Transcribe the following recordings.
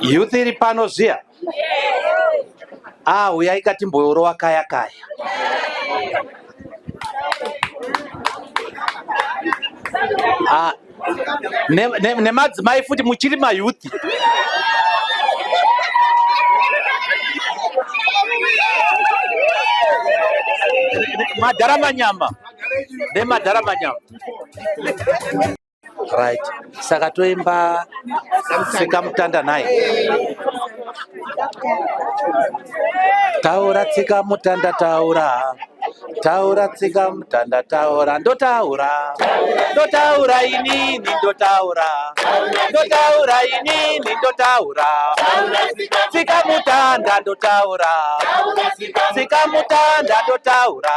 Youth iri pano zviya? Ah, huyai katimboyorowa kaya kaya. Ah, nemadzimai ne, ne futi muchiri mayouth. Madhara manyama. Nemadhara manyama. right saka toimba tsikamutanda nhai taura tsika mutanda taura taura tsika mutanda taura ndotaura ndotaura inini ndotaura ndotaura inini ndotaura tsika mutanda ndotaura tsika mutanda ndotaura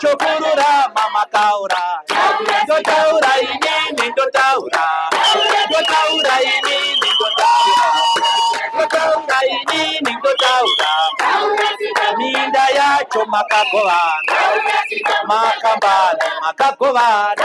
chokurura mama taura ndotaura inini ndotaura ndotaura inini ndotaura ndotaura inini ndotaura minda yacho makagovana makambani makagovana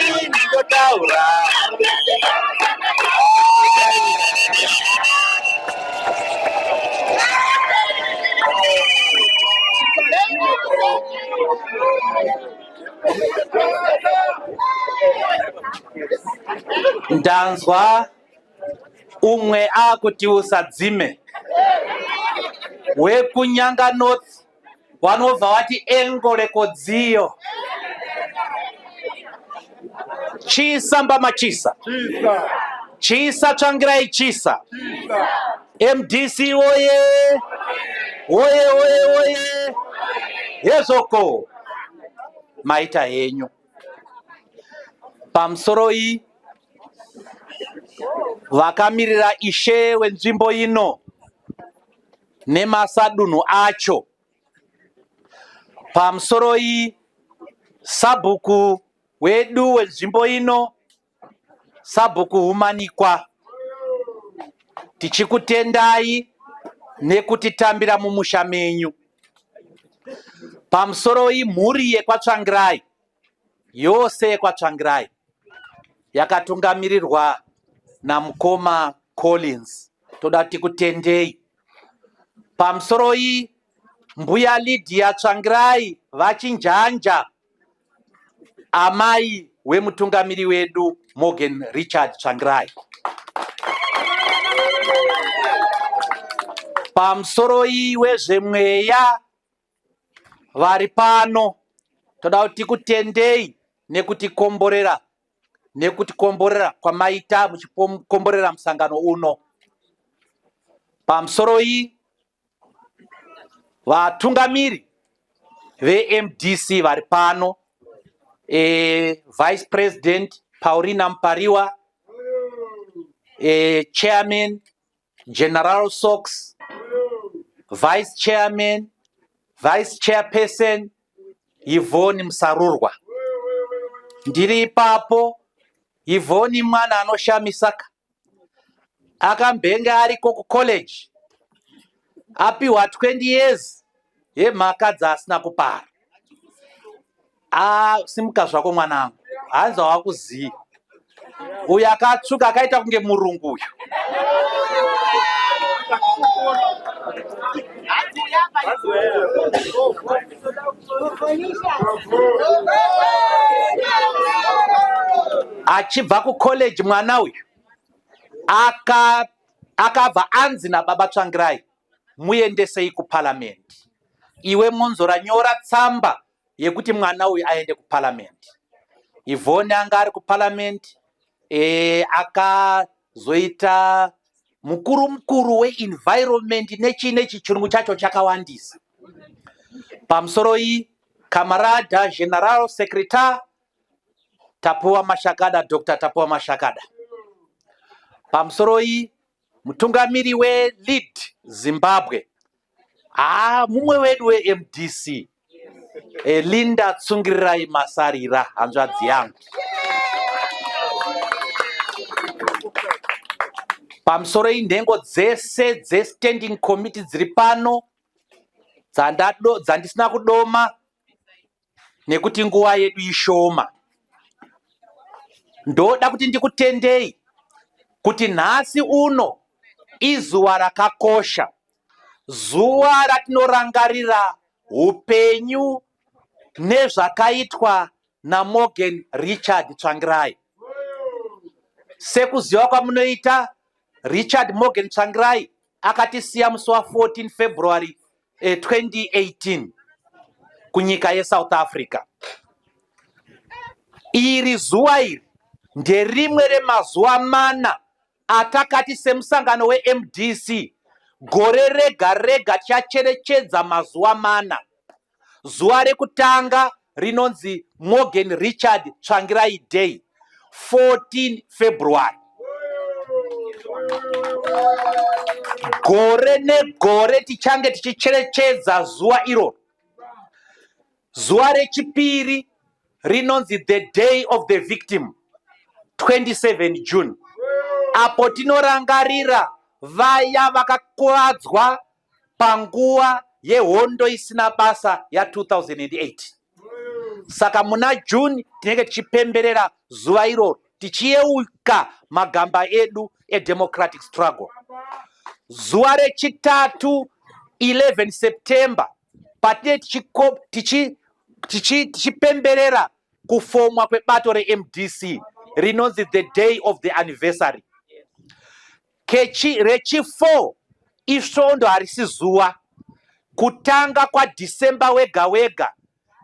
ndingotaura ndanzwa umwe akuti usadzime wekunyanga north vanobva vati engo rekodziyo chisa mbama chisa chisa tsvangirai chisa mdc woye woye woye woye hezvoko maita henyu pamusoro iyi vakamirira ishe wenzvimbo ino nemasadunhu acho. Pamusoroi sabhuku wedu wenzvimbo ino, sabhuku Humanikwa, tichikutendai nekutitambira mumusha menyu. Pamusoroi mhuri yekwaTsvangirai, yose yekwaTsvangirai yakatungamirirwa namukoma Collins toda kuti kutendei pamusoro iyi mbuya Lydia Tsvangirai vachinjanja amai wemutungamiri wedu Morgan Richard Tsvangirai pamusoro iyi wezvemweya vari pano toda kuti tikutendei nekutikomborera nekutikomborera kwamaita muchikomborera musangano uno pamusoro iyi vatungamiri vemdc vari pano e, vice president paurina mupariwa e, chairman General Sox, Vice Chairman, Vice Chairperson Yvonne Musarurwa. Ndiri ipapo Yvonne mwana anoshamisaka akambenge ariko kucollege apiwa 20 years yemhaka dzaasina kupara. Ah, simuka zvako mwanangu, hanzi hawakuzivi uyu akatsvuka akaita kunge murungu uyu. Achibva kucollege mwana uyu aka akabva anzi nababa Tsvangirai muendesei kuparliament. Iwe Mwonzora nyora tsamba yekuti mwana uyu aende kuparliament ivhoni anga ari kuparliament e, akazoita mukuru mukuru weenvironment nechii nechi chirungu chacho chakawandisa pamusoro iyi kamarada general secretar tapuwa mashakada dr tapuwa mashakada pamusoro iyi Mutungamiri weLead Zimbabwe, haa mumwe wedu weMDC, eh, Linda Tsungirirai Masarira, hanzvadzi yangu. Pamusoro inhengo dzese dzeStanding Committee dziri pano dzandado- dzandisina kudoma nekuti nguva yedu ishoma. Ndoda kuti ndikutendei kuti nhasi uno izuva rakakosha, zuva ratinorangarira upenyu nezvakaitwa naMorgan Richard Tsvangirai. Sekuziva kwamunoita Richard Morgan Tsvangirai Akatisiya musi wa 14 February eh, 2018 kunyika yeSouth Africa. Iri zuva iri nderimwe remazuva mana atakati semusangano weMDC gore rega rega tichacherechedza mazuva mana zuva rekutanga rinonzi morgan richard tsvangirai day 14 february gore negore tichange tichicherechedza zuva iroro zuva rechipiri rinonzi the day of the victim 27 june apo tinorangarira vaya vakakuvadzwa panguva yehondo isina basa ya 2008 saka muna june tinenge tichipemberera zuva iroro tichiyeuka magamba edu edemocratic struggle zuva rechitatu 11 september patinee tichipemberera kufomwa kwebato remdc rinonzi the day of the anniversary Kechi reChifour isvondo harisi zuva. Kutanga kwaDecember wega wega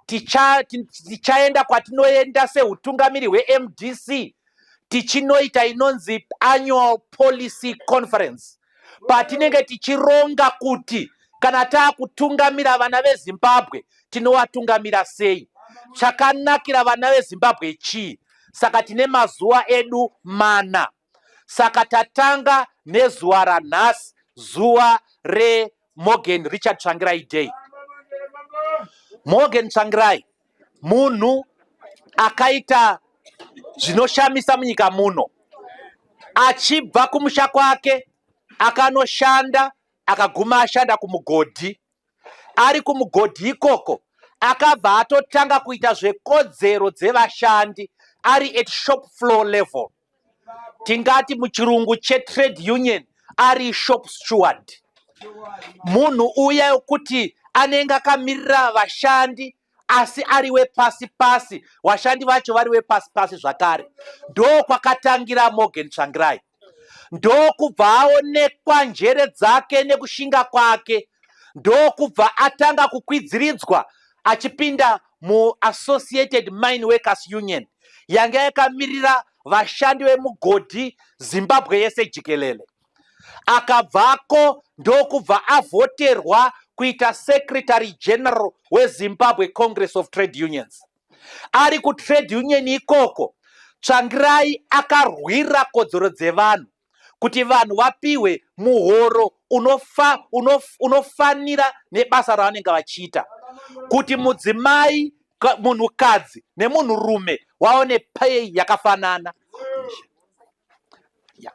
ticha- ti- tichaenda kwatinoenda sehutungamiri hweMDC tichinoita inonzi annual policy conference patinenge tichironga kuti kana taakutungamira vana veZimbabwe tinovatungamira sei, chakanakira vana veZimbabwe chii. Saka tine mazuva edu mana. Saka tatanga nezuva ranhasi zuva reMorgan Richard Tsvangirai Day. Morgan Tsvangirai munhu akaita zvinoshamisa munyika muno achibva kumusha kwake akanoshanda akaguma ashanda kumugodhi ari kumugodhi ikoko akabva atotanga kuita zvekodzero dzevashandi ari at shop floor level tingati muchirungu chetrade union ari shop steward munhu uya yokuti anenge akamirira vashandi asi ari wepasi pasi vashandi vacho vari wepasi pasi zvakare ndo kwakatangira morgan tsvangirai ndokubva aonekwa njere dzake nekushinga kwake ndokubva atanga kukwidziridzwa achipinda muAssociated Mine Workers Union yanga yakamirira vashandi vemugodhi Zimbabwe yese jikelele. Akabvako ndokubva avhoterwa kuita secretary general wezimbabwe congress of trade unions ari kutrade union ikoko tsvangirai akarwira kodzero dzevanhu kuti vanhu vapihwe muhoro unofa, unof, unofanira nebasa ravanenge vachiita kuti mudzimai munhukadzi nemunhurume waone pay yakafanana ya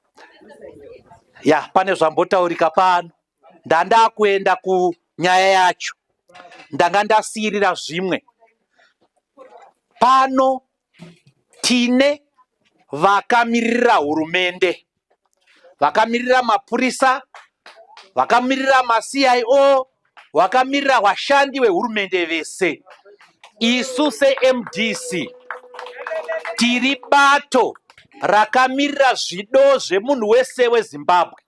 yeah, pane zvambotaurika pano ndandakuenda kunyaya yacho ndanga ndasiirira zvimwe pano Tine vakamirira hurumende, vakamirira mapurisa, vakamirira maCIO, vakamirira vashandi vehurumende vese. Isu seMDC tiri bato rakamirira zvido zvemunhu wese weZimbabwe.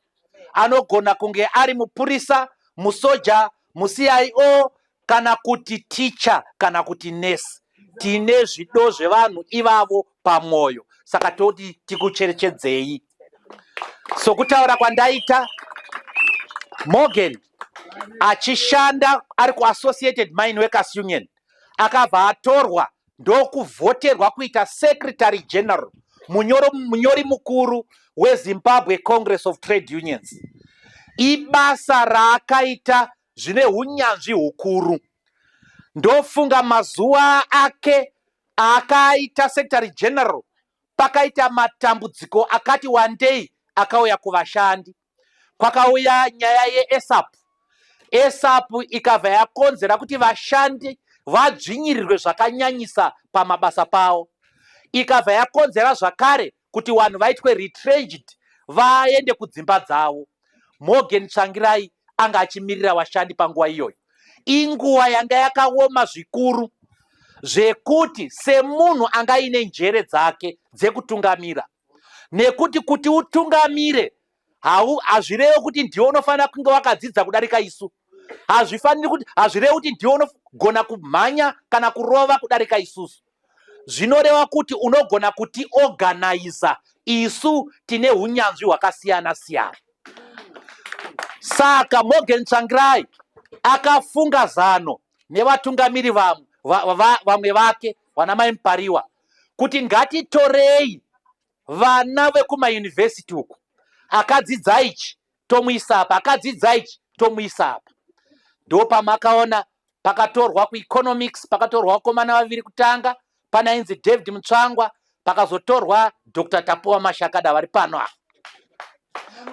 anogona kunge ari mupurisa musoja mucio kana kuti ticha kana kuti nurse tine zvido zvevanhu ivavo pamwoyo saka toti tikucherechedzei sokutaura kwandaita morgan achishanda ari kuassociated mine workers union Akabva atorwa ndokuvhoterwa kuita Secretary General, munyoro, munyori mukuru weZimbabwe Congress of Trade Unions. Ibasa raakaita zvine hunyanzvi hukuru. Ndofunga mazuva ake aakaita Secretary General pakaita matambudziko akati wandei akauya kuvashandi. kwakauya nyaya yeESAP. ESAP ikabva yakonzera kuti vashandi vadzvinyirirwe zvakanyanyisa pamabasa pavo. Ikabva yakonzera zvakare kuti vanhu vaitwe retrenched vaende kudzimba dzavo. Morgan Tsvangirai anga achimirira vashandi panguva iyoyo. Inguva yanga yakaoma zvikuru zvekuti semunhu anga aine njere dzake dzekutungamira nekuti kuti utungamire hau hazvirevi kuti ndiwe unofanira kunge wakadzidza kudarika isu hazvifaniri kuti hazvirevi kuti ndiwe unogona kumhanya kana kurova kudarika isusu zvinoreva kuti unogona kuti organiza isu tine unyanzvi hwakasiyana siyana saka morgan tsvangirai akafunga zano nevatungamiri vamwe vamwe vake vana mai mupariwa va, va, kuti ngatitorei vana vekumayunivhesiti uku akadzidza ichi tomuisa apa akadzidza ichi tomuisa apa ndo pamakaona pakatorwa kueconomics pakatorwa vakomana vaviri kutanga pane ainzi david mutsvangwa pakazotorwa dr tapuwa mashakada vari pano ava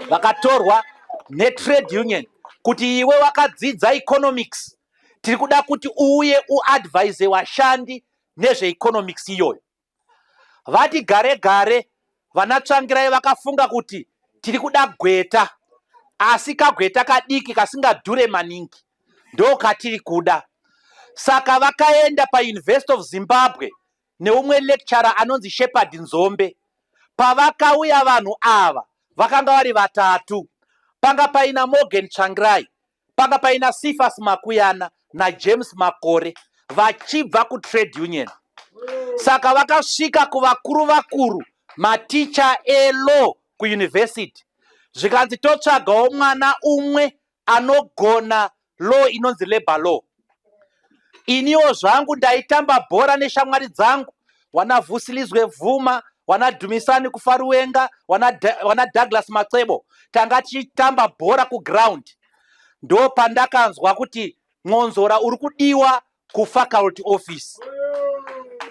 vakatorwa netrade union kuti iwe wakadzidza economics tiri kuda kuti uuye uadvise vashandi nezveeconomics iyoyo vati gare gare vanatsvangirai vakafunga kuti tiri kuda gweta asi kagweta kadiki kasingadhure maningi ndo katiri kuda saka vakaenda pauniversity of zimbabwe neumwe lecturer anonzi shepherd nzombe pavakauya vanhu ava vakanga vari vatatu panga paina morgan tsvangirai Panga paina Sifas Makuyana na James Makore vachibva ku trade union. Saka vakasvika kuvakuru vakuru maticha elo ku university. Zvikanzi totsvagawo mwana umwe anogona law inonzi labor law. Iniwo zvangu ndaitamba bhora neshamwari dzangu wana Vusilizwe Bvuma, wana Dumisani Kufaruwenga, wana, da, wana Douglas Matsebo. Tanga tichitamba bhora kuground. Ndo pandakanzwa kuti Mwonzora uri kudiwa kufaculty office.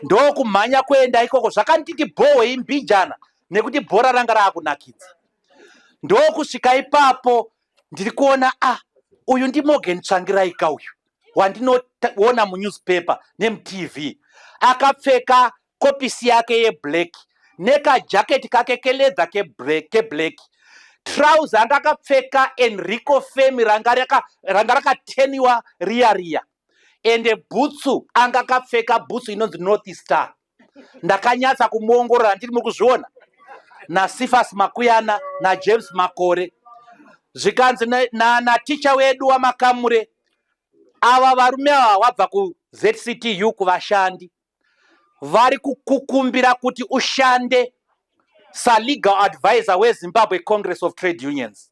Ndo kumhanya kuenda ikoko zvakanditi bhohwe imbijana nekuti bhora ranga raakunakidza. Ndo kusvika ipapo ndiri kuona a ah, uyu ndimorgan tsvangiraika uyu wandinoona munewspaper nemutv akapfeka kopisi yake yeblack nekajaketi kake keledha keblack trouser anga akapfeka enrico femi ranga rakateniwa riya riya ende bhutsu anga akapfeka bhutsu inonzi north star ndakanyatsa kumuongorora ndiri muri kuzviona nasifas makuyana najames makore zvikanzi naticha wedu wamakamure ava varume ava wabva kuzctu kuvashandi vari kukukumbira kuti ushande salegal advisor wezimbabwe congress of trade unions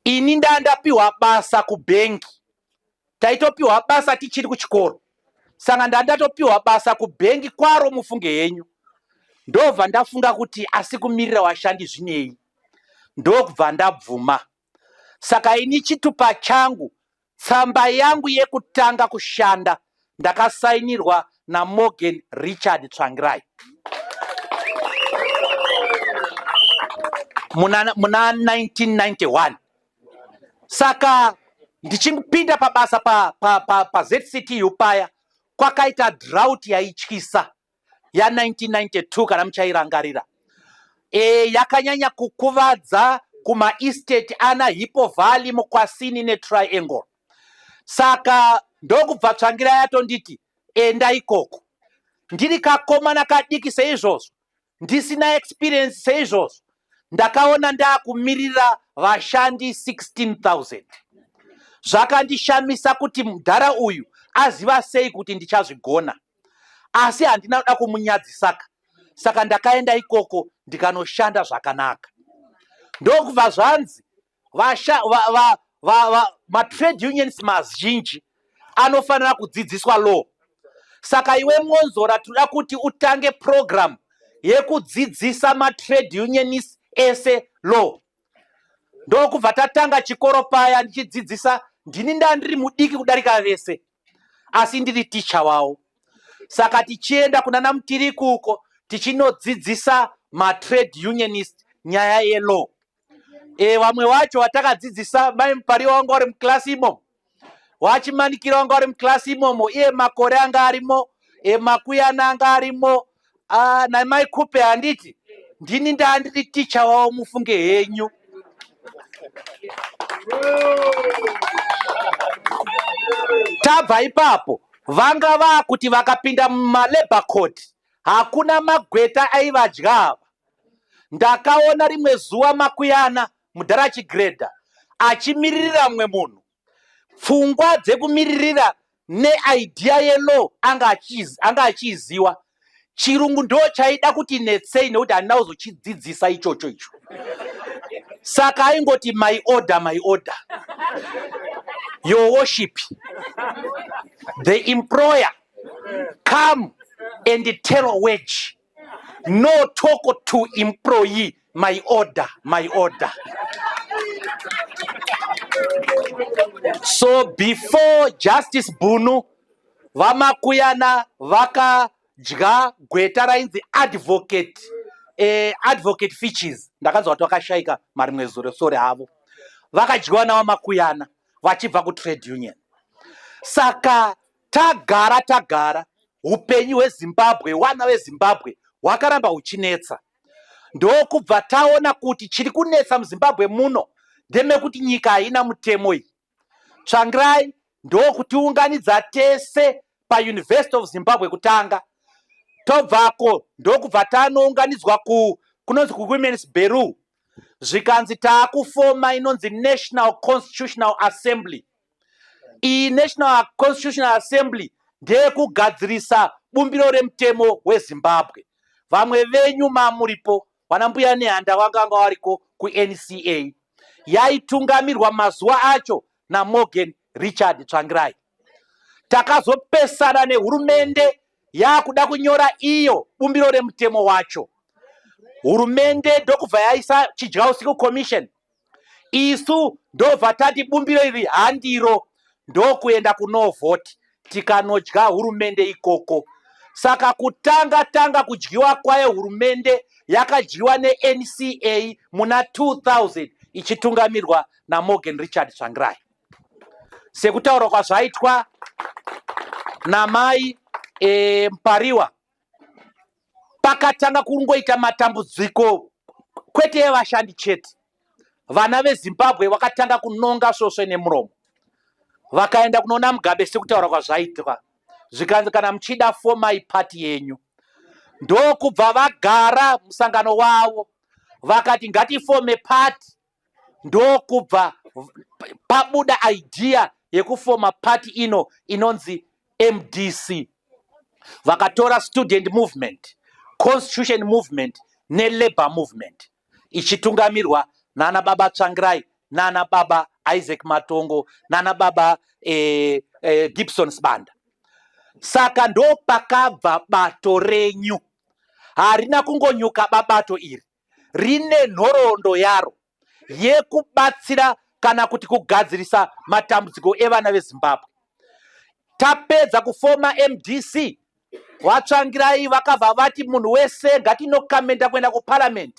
ini ndandapiwa basa kubhengi taitopiwa basa tichiri kuchikoro saka ndandatopiwa basa kubhengi kwaro mufunge henyu ndobva ndafunga kuti asi kumirira washandi zvinei ndokubva ndabvuma saka ini chitupa changu tsamba yangu yekutanga kushanda ndakasainirwa namorgan richard tsvangirai muna, muna 1991 Saka ndichipinda pabasa pa, pa, pa, pa ZCTU paya kwakaita drought yaityisa ya 1992 kana muchairangarira. E, yakanyanya kukuvadza kuma estate ana Hippo Valley, Mukwasini ne Triangle. Saka ndokubva Tsvangira yatonditi enda ikoko. Ndiri kakomana kadiki seizvozvo Ndisina experience seizvozvo ndakaona ndakumirira vashandi 16000 zvakandishamisa kuti mudhara uyu aziva sei kuti ndichazvigona asi handina kuda kumunyadzisaka saka ndakaenda ikoko ndikanoshanda zvakanaka ndokubva zvanzi vasha va, va, va, va, matrade unions mazhinji anofanira kudzidziswa law saka iwe mwonzora tinoda kuti utange program yekudzidzisa matrade unionist ese law ndokubva tatanga chikoro paya ndichidzidzisa ndini ndaa ndiri mudiki kudarika vese asi ndiri ticha wawo saka tichienda kuna namutiriku uko tichinodzidzisa matrade unionist nyaya yelaw e, vamwe vacho vatakadzidzisa mai mupariwa wanga uri muklasi imomo wachimanikira wanga uri muklasi imomo iye makore anga arimo e, makuyana anga arimo ah, namai kupe handiti ndini ndaa ndiri ticha wavo mufunge henyu tabva ipapo vanga vaakuti vakapinda mumalabor court Hakuna magweta aivadya ava. Ndakaona rimwe zuva Makuyana, mudhara Chigredha, achimiririra mumwe munhu. Pfungwa dzekumiririra neidea yelaw anga achiiziva. Chirungu ndo chaida kuti netsei nekuti handina kuzochidzidzisa ichocho icho. Saka aingoti my order, my order. Your worship. The employer come and tell a wage no talk to employee my order my order so before justice bunu vamakuyana vakadya gweta rainzi advocate eh, advocate features ndakanzwa kuti vakashaika marimwe zuro sore havo vakadyiwa navamakuyana vachibva kutrade union saka Tagara tagara hupenyu hweZimbabwe wana veZimbabwe hwakaramba huchinetsa ndokubva taona kuti chiri kunetsa muZimbabwe muno ndemekuti nyika haina mutemo iyi. Tsvangirai ndokutiunganidza tese paUniversity of Zimbabwe kutanga tobvako ndokubva tanounganidzwa ku kunonzi kuWomen's Bureau zvikanzi taakufoma inonzi National Constitutional Assembly Iyi National Constitutional Assembly ndeyekugadzirisa bumbiro remutemo weZimbabwe. Vamwe venyu mamuripo vana mbuya nehanda vakanga variko kuNCA yaitungamirwa mazuva acho naMorgan Richard Tsvangirai. Takazopesana nehurumende yakuda kunyora iyo bumbiro remutemo wacho. Hurumende ndokubva yaisa chidya usiku commission isu ndobva tati bumbiro iri handiro ndokuenda kunovhoti tikanodya hurumende ikoko saka kutanga tanga kudyiwa kwayo hurumende yakadyiwa nenca muna 2000 ichitungamirwa namorgan richard tsvangirai sekutaurwa kwazvaitwa namai e, mpariwa pakatanga kungoita matambudziko kwete evashandi chete vana vezimbabwe vakatanga kunonga svosve nemuromo vakaenda kunoona mugabe sekutaura kwazvaitwa zvikanzi kana muchida fomai pati yenyu ndokubva vagara musangano wavo vakati ngatifome pati ndokubva pabuda idea yekufoma party ino inonzi mdc vakatora student movement constitution movement nelabour movement ichitungamirwa nana baba tsvangirai nana baba isaac matongo nana baba eh, eh, gibson sibanda saka ndopakabva bato renyu harina kungonyuka babato iri rine nhoroondo yaro yekubatsira kana kuti kugadzirisa matambudziko evana vezimbabwe tapedza kufoma mdc vatsvangirai vakabva vati munhu wese ngatinokamenda kuenda kuparamend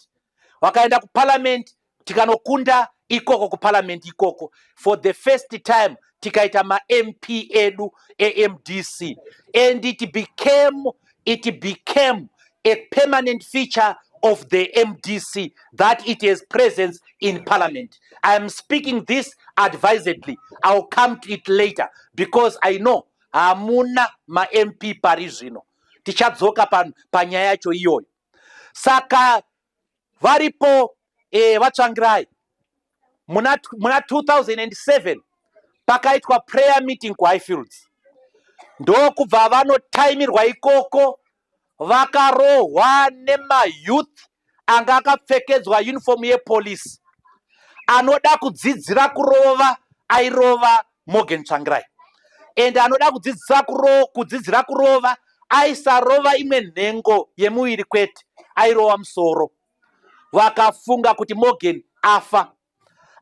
vakaenda kuparamend tikanokunda ikoko kuparliament ikoko for the first time tikaita mamp edu emdc and it became, it became a permanent feature of the mdc that it has presence in parliament i am speaking this advisedly iwill come to it later because i know hamuna mamp pari zvino tichadzoka panyaya yacho iyoyo saka varipo eh, vatsvangirai muna, muna 2007 pakaitwa prayer meeting kuhighfields ndokubva vanotaimirwa ikoko vakarohwa nemayouth anga akapfekedzwa uniform yepolice anoda kudzidzira kurova airova Morgan Tsvangirai ende anoda kudzidzisa kuro, kudzidzira kurova aisarova imwe nhengo yemuviri kwete airova musoro vakafunga kuti Morgan afa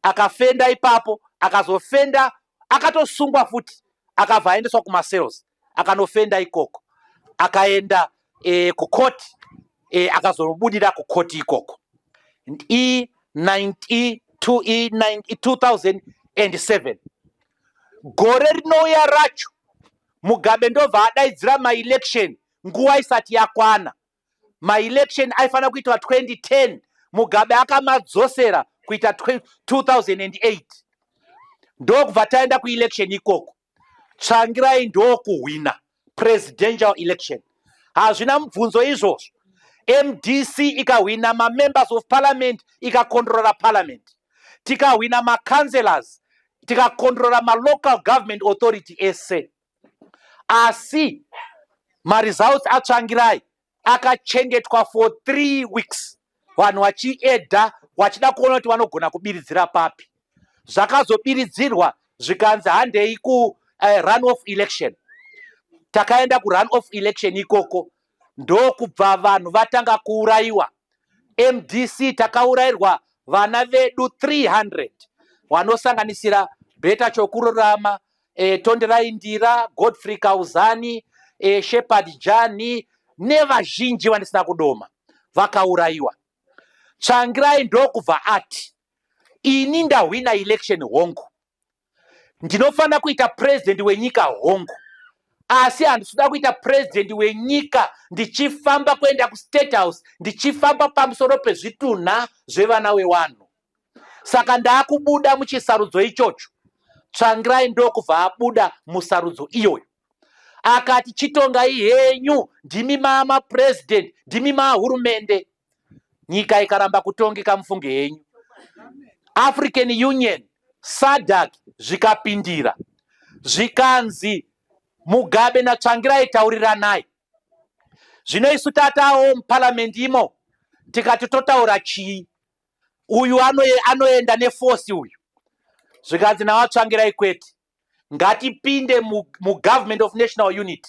akafenda ipapo akazofenda akatosungwa futi akabva aendeswa kumasales akanofenda ikoko akaenda e, kukoti e, akazobudira kukoti ikoko e 2007 e, e, gore rinouya racho mugabe ndobva adaidzira maelection nguva isati yakwana maelection aifanira kuitwa 2010 mugabe akamadzosera kuita 2008 ndokubva taenda kuelection ikoko Tsvangirai ndokuhwina presidential election. Hazvina mubvunzo izvozvo. MDC ikahwina mamembers of parliament ikakondrora parliament. Tikahwina macounselors tikakondrora malocal government authority ese. Asi maresults atsvangirai akachengetwa for three weeks vanhu vachiedha vachida kuona kuti vanogona kubiridzira papi zvakazobiridzirwa zvikanzi handei ku uh, eh, run off election takaenda kurun off election ikoko ndokubva vanhu vatanga kuurayiwa mdc takaurayirwa vana vedu 300 vanosanganisira beta chokururama e, Tonderai Ndira, Godfrey Kauzani, e, Shepherd Jani nevazhinji vandisina kudoma vakaurayiwa. Tsvangirai ndokubva ati ini ndahwina election hongu, ndinofanira kuita president wenyika hongu, asi handisida kuita president wenyika ndichifamba kuenda kustate house ndichifamba pamusoro pezvitunha zvevana wewanhu. Saka ndakubuda muchisarudzo ichocho. Tsvangirai ndokubva abuda musarudzo iyoyo. Akati chitongai henyu ndimi mama president ndimi mahurumende. Nyika ikaramba kutongeka mufunge henyu. African Union SADC zvikapindira zvikanzi Mugabe naTsvangirai tauriranai. Zvino isu tatawo muparliament imo tikati totaura chii? uyu anoenda nefosi uyu zvikanzi nawatsvangirai kwete ngatipinde mugovernment of national unit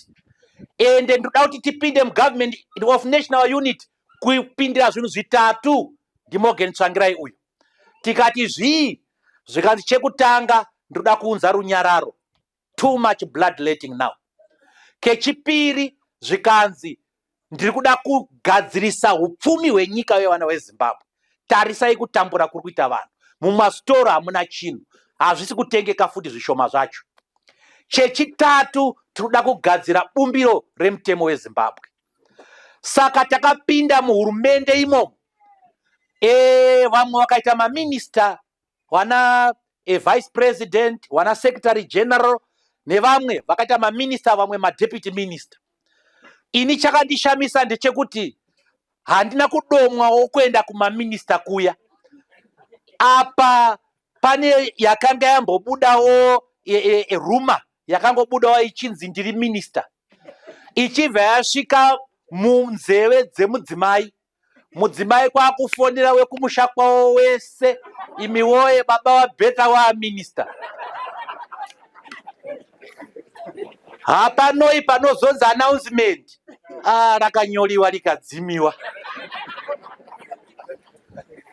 and ndoda kuti tipinde mugovernment of national unit kupindira zvinhu zvitatu ndimogen tsvangirai uyu tikati zvii zvikanzi chekutanga ndoda kuunza runyararo too much blood letting now kechipiri zvikanzi ndiri kuda kugadzirisa upfumi hwenyika yevana vezimbabwe tarisai kutambura kuri kuita vanhu mumastoro hamuna chinhu hazvisi kutengeka futi zvishoma zvacho chechitatu tiri kuda kugadzira bumbiro remutemo wezimbabwe saka takapinda muhurumende imomo ee vamwe vakaita maminista wana e vice president wana secretary general nevamwe vakaita maminista vamwe madeputy minister ini chakandishamisa ndechekuti handina kudomwawo kuenda kumaminista kuya apa pane yakanga yambobudawo e, e, e, ruma yakangobudawo ichinzi ndiri minista ichibva yasvika munzeve dzemudzimai mudzimai kwakufonera wekumusha kwavo wese imi woye baba vabheta waaminista hapanoi panozonzi announcement ah, rakanyoriwa rikadzimiwa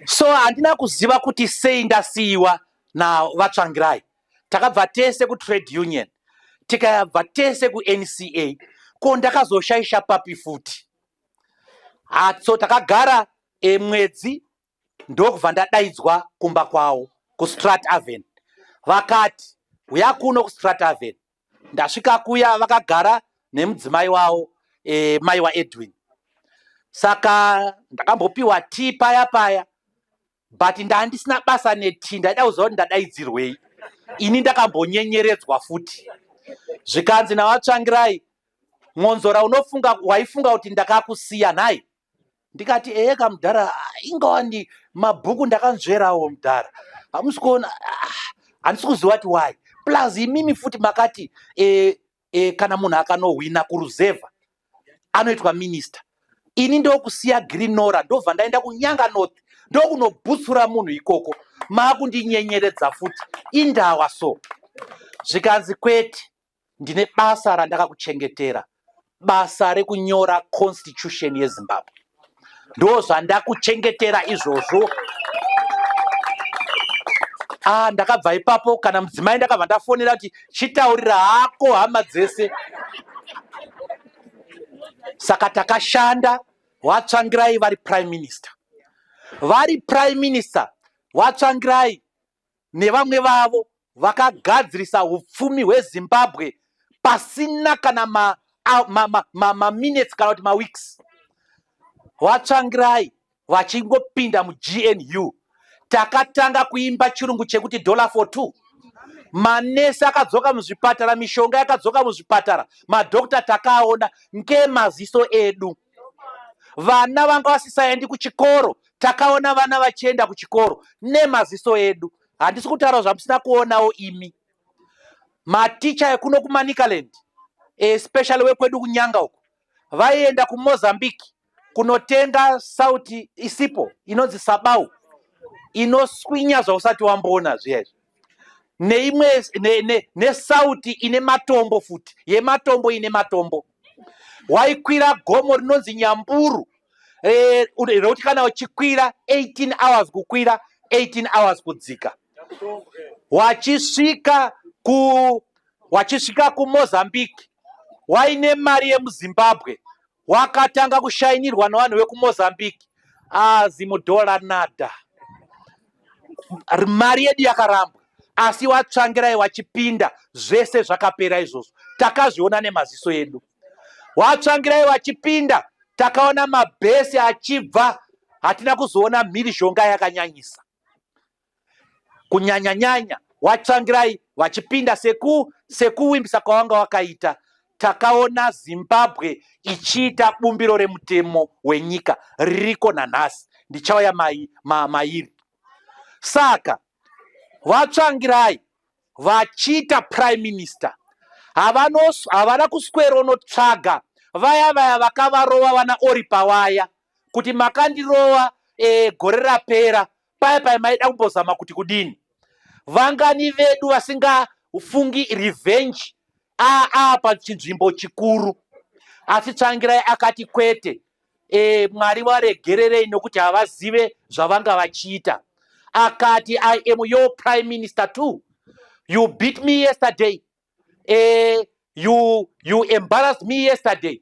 so handina kuziva kuti sei ndasiyiwa navatsvangirai takabva tese kutrade union tikabva tese kuNCA ko ndakazoshaisha papi futi hatso takagara e, mwedzi ndokubva ndadaidzwa kumba kwawo kustrat aven vakati huya kuno kustrat aven ndasvika kuya vakagara nemudzimai wawo e, mai waedwin saka ndakambopiwa tii paya paya but ndandisina basa neti ndaida kuziva kuti ndadaidzirwei ini ndakambonyenyeredzwa futi zvikanzi navatsvangirai mwonzora unofunga waifunga kuti ndakakusiya nhai ndikati ehe ka mudhara ingawa ndi mabhuku ndakanzverawo mudhara hamusi kuona ah, handisi kuziva kuti why plus imimi futi makati e, e, kana munhu akanohwina kuruzevha anoitwa minista ini ndokusiya grinora ndobva ndaenda kunyanga north ndokunobutsura munhu ikoko maakundinyenyeredza futi indawa so zvikanzi kwete ndine basa randakakuchengetera basa rekunyora constitution yezimbabwe ndozvandakuchengetera izvozvo ah ndakabva ipapo kana mudzimai ndakabva ndafonera kuti chitaurira hako hama dzese saka takashanda watsvangirai vari prime minister vari prime minister watsvangirai nevamwe vavo vakagadzirisa hupfumi hweZimbabwe pasina kana maminetsi ma, ma, ma, ma, ma kana kuti maweeks VaTsvangirai vachingopinda muGNU takatanga kuimba chirungu chekuti dollar for two manesi akadzoka muzvipatara mishonga yakadzoka muzvipatara madokta takaona ngemaziso edu vana vanga vasisaendi kuchikoro takaona vana vachienda kuchikoro nemaziso edu handisi kutaura zvamusina kuonawo imi maticha ekuno kumanicaland especially wekwedu kunyanga uko vaienda kumozambique kunotenga sauti isipo inonzi sabau inoswinya zvausati wamboona zviyazvi neimwe nesauti ne, ne ine matombo futi yematombo ine matombo waikwira gomo rinonzi nyamburu eh, rekuti kana uchikwira 18 hours kukwira 18 hours kudzika wachisvika ku wachisvika kumozambique waine mari yemuzimbabwe wakatanga kushainirwa nevanhu vekumozambique azi mudhora nada mari yedu yakarambwa asi watsvangirai wachipinda zvese zvakapera izvozvo takazviona nemaziso edu watsvangirai wachipinda takaona mabhesi achibva hatina kuzoona mhirizhonga yakanyanyisa kunyanyanyanya watsvangirai vachipinda seku sekuwimbisa kwawanga wakaita Takaona Zimbabwe ichiita bumbiro remutemo wenyika ririko nanhasi, ndichauya mai, ma, mairi. Saka VaTsvangirai vachiita prime minister havanos- havana kusweronotsvaga vaya vaya vakavarova vana Oripa vaya kuti makandirova eh, gore rapera paya paya maida kumbozama kuti kudini vangani vedu vasingafungi revenge aa pachinzvimbo chikuru asi tsvangirai akati kwete e, mwari varegererei nokuti havazive zvavanga vachiita akati i am your prime minister too you beat me yesterday e, you, you embarrassed me yesterday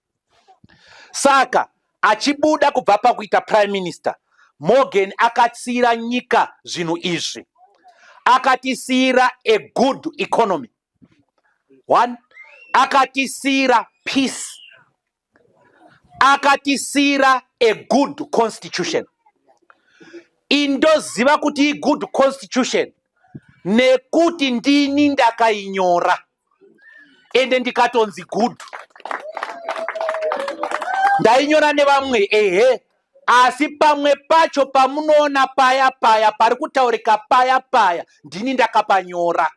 Saka achibuda kubva pakuita prime minister, Morgan akatsiira nyika zvinhu izvi. Akatisiira a good economy. One, akatisiira peace. Akatisiira a good constitution. Indoziva kuti i good constitution nekuti ndini ndakainyora. ende ndikatonzi good ndainyora nevamwe ehe asi pamwe pacho pamunoona paya paya pari kutaurika paya paya ndini ndakapanyora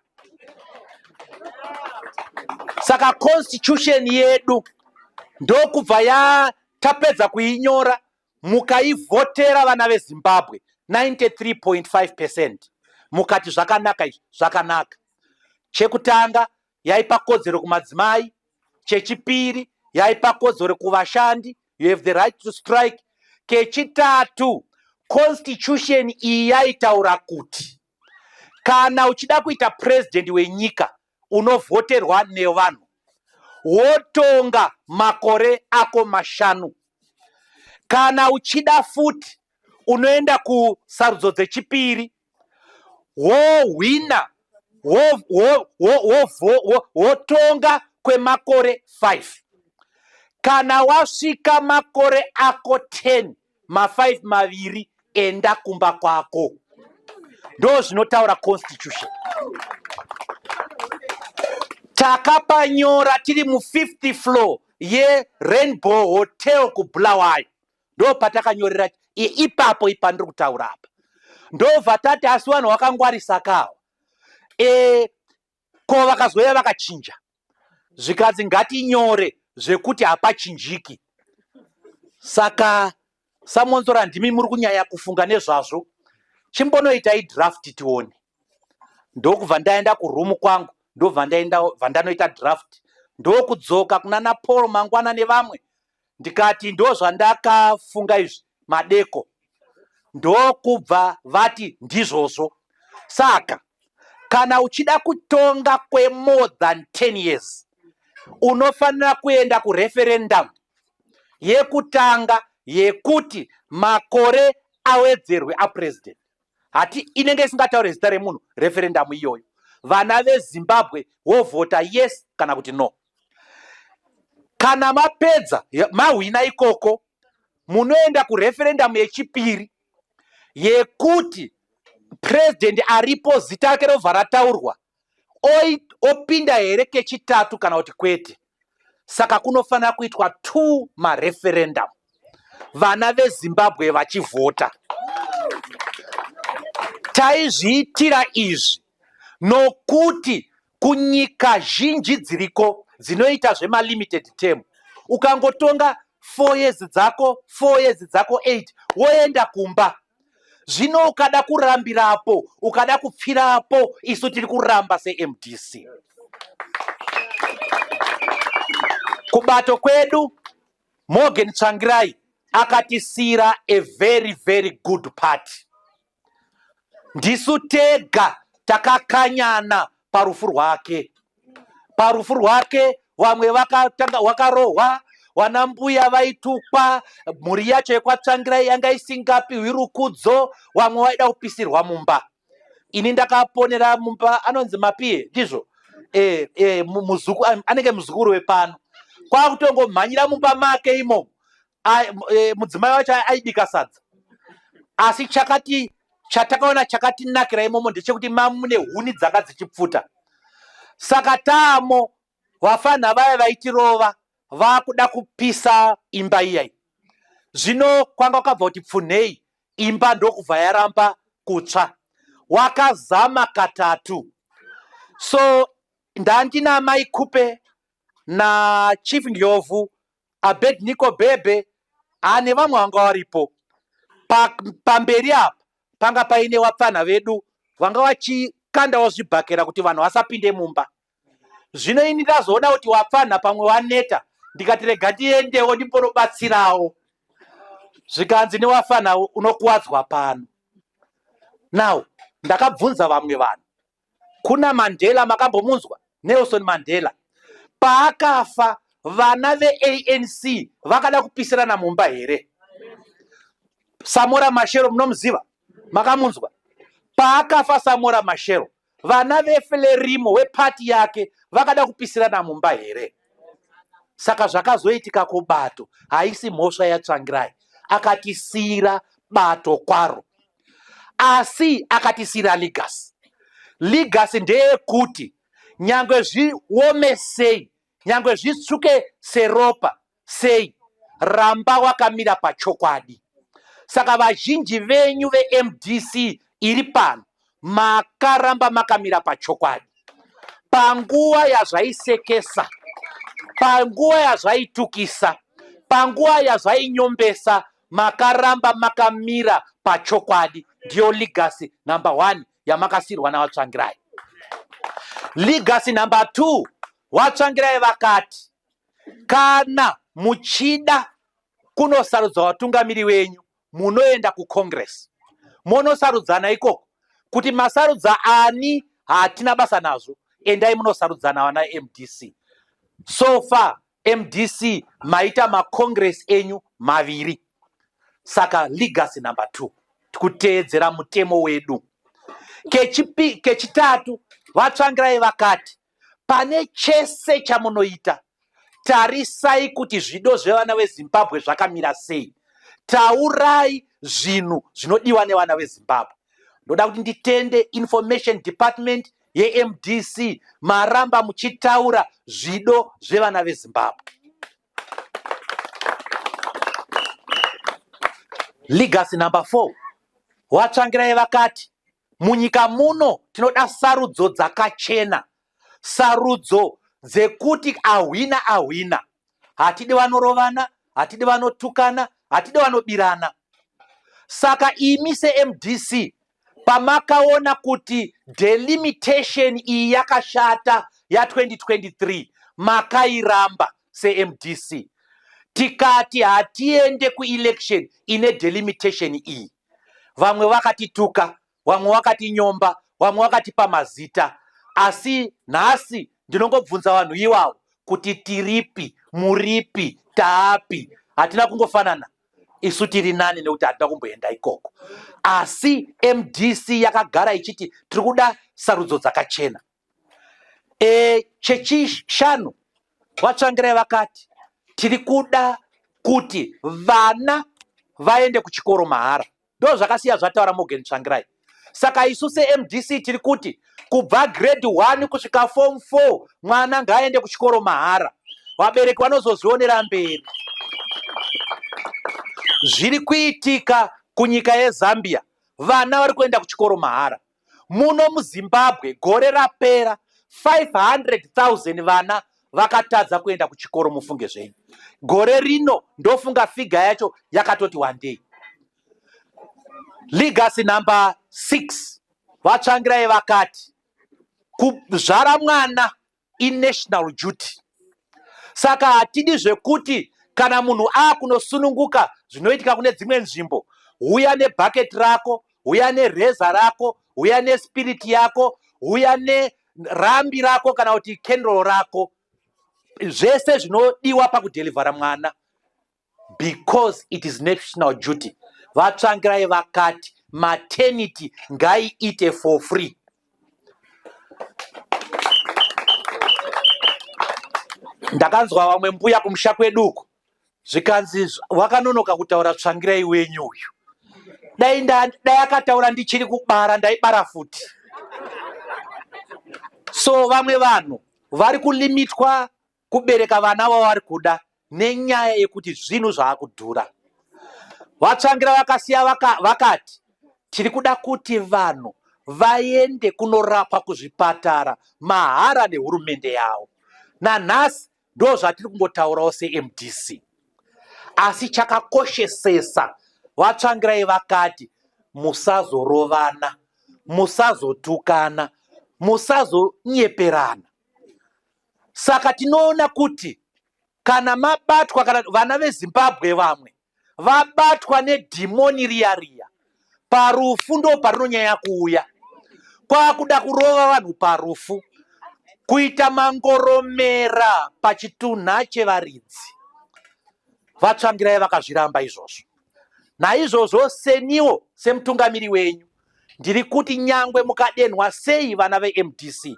saka constitution yedu ndokubva ya tapedza kuinyora Mukaivhotera vana veZimbabwe 93.5 percent mukati zvakanaka izvi zvakanaka. Chekutanga yaipa kodzero kumadzimai, chechipiri yaipa kodzero kuvashandi, you have the right to strike. Kechitatu, constitution iyi yaitaura kuti kana uchida kuita president wenyika unovhoterwa nevanhu wotonga makore ako mashanu kana uchida futi unoenda kusarudzo dzechipiri wohwina wotonga kwemakore 5 kana wasvika makore ako 10 mafive maviri enda kumba kwako ndo zvinotaura constitution takapanyora tiri mufifth floor yerainbow hotel kubulawayo ndo patakanyorera ipapo ipa ndiri kutaura apa ndobva tati asi vanhu vakangwarisa kawa e, ko vakazouya vakachinja zvikanzi ngatinyore zvekuti hapachinjiki saka samonzora ndimi muri kunyanya kufunga nezvazvo chimbonoitai draft tione ndokubva ndaenda kuroom kwangu ndobva ndaenda bva ndanoita draft ndokudzoka kunana paul mangwana nevamwe ndikati ndozvandakafunga izvi madeko ndokubva vati ndizvozvo saka kana uchida kutonga kwemore than 10 years unofanira kuenda kureferendum yekutanga yekuti makore awedzerwe apresident hati inenge isingataure zita remunhu referendum iyoyo vana vezimbabwe wovhota yes kana kuti no kana mapedza mahwina ikoko munoenda kureferendamu yechipiri yekuti purezidhendi aripo zita rake rovha rataurwa opinda here kechitatu kana kuti kwete saka kunofanira kuitwa two mareferendamu vana vezimbabwe vachivhota taizviitira izvi nokuti Kunyika zhinji dziriko dzinoita zvema limited term ukangotonga four years dzako four years dzako eight woenda kumba zvino ukada kurambira apo ukada kupfira apo isu tiri kuramba semdc kubato kwedu morgan tsvangirai akatisiira a very very good party Ndisu tega takakanyana parufu rwake. Parufu rwake vamwe vakatanga wakarohwa wana mbuya vaitukwa mhuri yacho yekwatsvangira yanga isingapi hwirukudzo vamwe vaida kupisirwa mumba ini ndakaponera mumba anonzi mapie ndizvo e, e, muzuku, anenge muzukuru wepano kwakutongomhanyira mumba make imomo e, mudzimai wacho aibika sadza asi chakati chatakaona chakatinakira imomo ndechekuti mamune huni dzanga dzichipfuta saka tamo vafanha vaya vaitirova vakuda kupisa imba iyai zvino kwanga kwakabva kuti pfunhei imba ndokubva yaramba kutsva wakazama katatu so ndandina mai kupe nachief ndlovu Abednico Bhebhe haa nevamwe vanga varipo pamberi apa panga paine vapfanha vedu vanga vachikandawo zvibhakera kuti vanhu vasapinde mumba zvino ini ndazoona kuti vapfanha pamwe vaneta ndikati rega ndiendewo ndimbonobatsirawo zvikanzi newafana unokuwadzwa pano now ndakabvunza vamwe vanhu Kuna Mandela makambomunzwa? Nelson Mandela paakafa vana veANC vakada kupisirana mumba here? Samora Mashero munomuziva? Makamunzwa? Paakafa Samora Mashero vana veFlerimo wepati yake vakada kupisirana mumba here? saka zvakazoitika kubato haisi mhosva yatsvangirai akatisiyira bato kwaro asi akatisiyira legacy legacy ndeyekuti nyangwe zviome sei nyangwe zvitsvuke seropa sei ramba wakamira pachokwadi saka vazhinji venyu vemdc iri pano Makaramba makamira pachokwadi panguva yazvaisekesa, panguva yazvaitukisa, panguva yazvainyombesa. Makaramba makamira pachokwadi. Ndiyo legacy number one yamakasirwa naVaTsvangirai. Legacy number two, VaTsvangirai vakati kana muchida kunosarudza vatungamiri venyu munoenda kucongress monosarudzana ikoko kuti masarudza ani hatina basa nazvo endai munosarudzana vana mdc so far mdc maita macongress enyu maviri saka legacy number two tikuteedzera mutemo wedu kechitatu vatsvangirai vakati Pane chese chamunoita, tarisai kuti zvido zvevana veZimbabwe zvakamira sei. Taurai zvinhu zvinodiwa nevana veZimbabwe. Ndoda kuti nditende information department yeMDC maramba muchitaura zvido zvevana veZimbabwe. Legacy number four, VaTsvangirai vakati Munyika muno tinoda sarudzo dzakachena, sarudzo dzekuti ahwina ahwina. Hatidi vanorovana, hatidi vanotukana, hatidi vanobirana. Saka imi seMDC pamakaona kuti delimitation iyi yakashata ya2023 makairamba seMDC tikati hatiende kuelection ine delimitation iyi. vamwe vakatituka vamwe vakatinyomba vamwe vakatipa mazita asi nhasi ndinongobvunza vanhu iwawo kuti tiripi muripi taapi hatina kungofanana isu tiri nani nekuti hatina kumboenda ikoko asi mdc yakagara ichiti tiri kuda sarudzo dzakachena e, chechishanu vatsvangirai vakati tiri kuda kuti vana vaende kuchikoro mahara ndo zvakasiya zvataura morgan tsvangirai saka isu semdc tiri kuti kubva grade 1 kusvika form 4 mwana ngaaende kuchikoro mahara vabereki vanozozvionera mberi zviri kuitika kunyika yezambia vana vari kuenda kuchikoro mahara Muno muZimbabwe gore rapera 500,000 vana vakatadza kuenda kuchikoro mufunge zvenyu. Gore rino ndofunga figa yacho yakatoti wandei. Legacy number 6 VaTsvangirai vakati kuzvara mwana inational duty saka hatidi zvekuti kana munhu akunosununguka zvinoitika kune dzimwe nzvimbo huya nebucket rako huya nereza rako huya nespirit yako huya nerambi rako kana kuti kendro rako zvese zvinodiwa pakudelivhara mwana because it is national duty vatsvangirai vakati maternity ngaiite for free ndakanzwa vamwe mbuya kumusha kwedu uko zvikanzi wakanonoka kutaura tsvangirai wenyu uyu dai dai akataura ndichiri kubara ndaibara futi so vamwe vanhu vari kulimitwa kubereka vana vavari kuda nenyaya yekuti zvinhu zvaakudhura. VaTsvangira vakasiya vaka, vakati tiri kuda kuti vanhu vaende kunorapwa kuzvipatara mahara nehurumende yavo. Nanhasi ndo zvatiri kungotaurawo seMDC. Asi chakakoshesesa VaTsvangirai vakati musazorovana, musazotukana, musazonyeperana. Saka tinoona kuti kana mabatwa kana vana vezimbabwe vamwe vabatwa nedhimoni riya riya parufu ndo parinonyanya kuuya kwakuda kurova vanhu parufu kuita mangoromera pachitunha chevaridzi vatsvangirai vakazviramba izvozvo naizvozvo seniwo semutungamiri wenyu ndiri kuti nyangwe mukadenhwa sei vana vemdc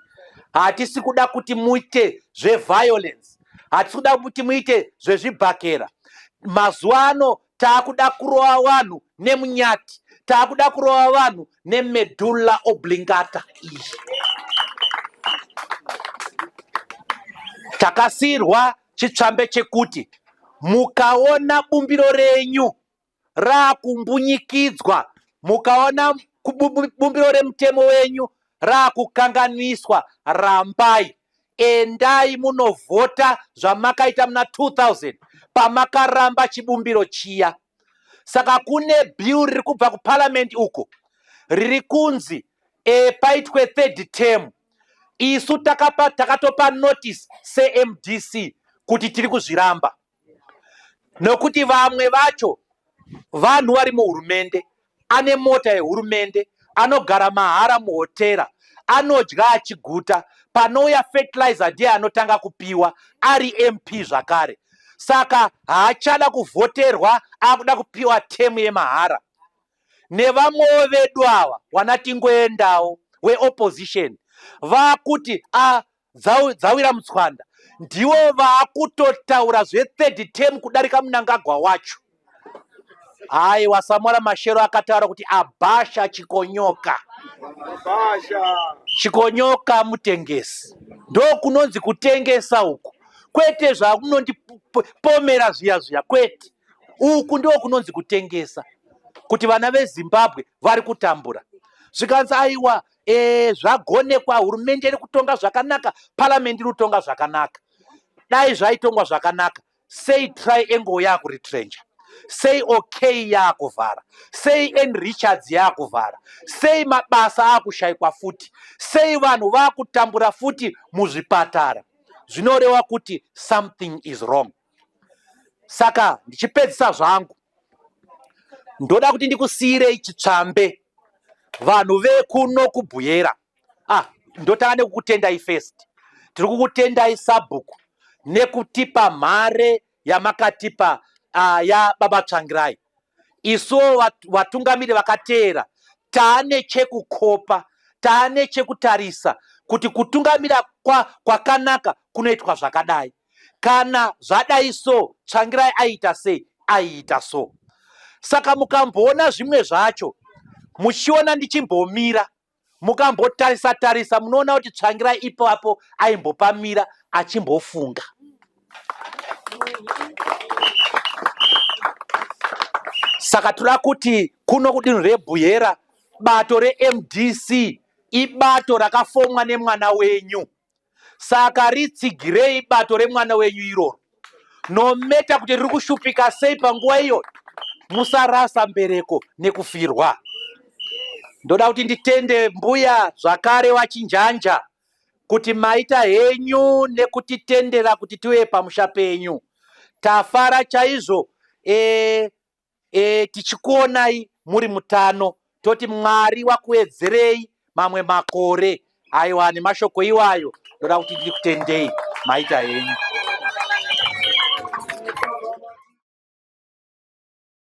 hatisi kuda kuti muite zveviolence hatisi kuda kuti muite zvezvibhakera mazuva ano taakuda kurova vanhu nemunyati taakuda kurova vanhu nemedulla oblingata iyi takasiyirwa chitsvambe chekuti mukaona bumbiro renyu raakumbunyikidzwa mukaona bumbiro remutemo wenyu raakukanganiswa rambai endai munovhota zvamakaita muna 2000 pamakaramba chibumbiro chiya saka kune bill riri kubva kuparamend uko riri kunzi e, paitwe third term isu takatopa notice semdc kuti tiri kuzviramba nokuti vamwe vacho vanhu vari muhurumende ane mota yehurumende anogara mahara muhotera anodya achiguta panouya fertilizer ndiye anotanga kupiwa ari mp zvakare saka haachada kuvhoterwa akuda kupiwa temu yemahara nevamwewo vedu ava wana tingoendawo weopposition vakuti a dzawira mutswanda ndivo vakutotaura zvethird term kudarika munangagwa wacho hayi wasamora mashero akataura kuti abhasha chikonyoka chikonyoka mutengesi ndokunonzi kutengesa uku kwete zvakunondipomera zviya zviya kwete uku ndiwo kunonzi kutengesa kuti vana vezimbabwe vari kutambura zvikanzi aiwa Eh, zvagonekwa hurumende iri kutonga zvakanaka parliament iri kutonga zvakanaka dai zvaitongwa zvakanaka sei triangle yakuretrenja sei okay yaakuvhara sei n richards yaakuvhara sei mabasa aakushaikwa futi sei vanhu vaakutambura futi muzvipatara zvinoreva kuti something is wrong saka ndichipedzisa zvangu ndoda kuti ndikusiyirei chitsvambe vanhu vekuno kubuyera ah ndotanga nekukutendai first tiri kukutendai sabhuku nekutipa mhare yamakatipa uh, yababa tsvangirai isuwo vatungamiri vakateera taane chekukopa taane chekutarisa kuti kutungamira kwakanaka kwa kunoitwa zvakadai kana zvadai so tsvangirai aiita sei aiita so saka mukamboona zvimwe zvacho muchiona ndichimbomira mukambotarisa tarisa munoona kuti tsvangira ipapo aimbopamira achimbofunga saka toda kuti kuno kudinhu rebhuhera bato remdc ibato rakafomwa nemwana wenyu Saka ritsigirei bato remwana wenyu iroro, nometa kuti riri kushupika sei panguva iyoyo. Musarasa mbereko nekufirwa. Ndoda kuti nditende mbuya zvakare wachinjanja kuti maita henyu nekutitendera kuti tiuye pamusha penyu. Tafara chaizvo e, E, tichikuonai muri mutano toti Mwari wakuedzerei mamwe makore. Aiwa, nemashoko iwayo ndoda kuti ndikutendei maita henyu.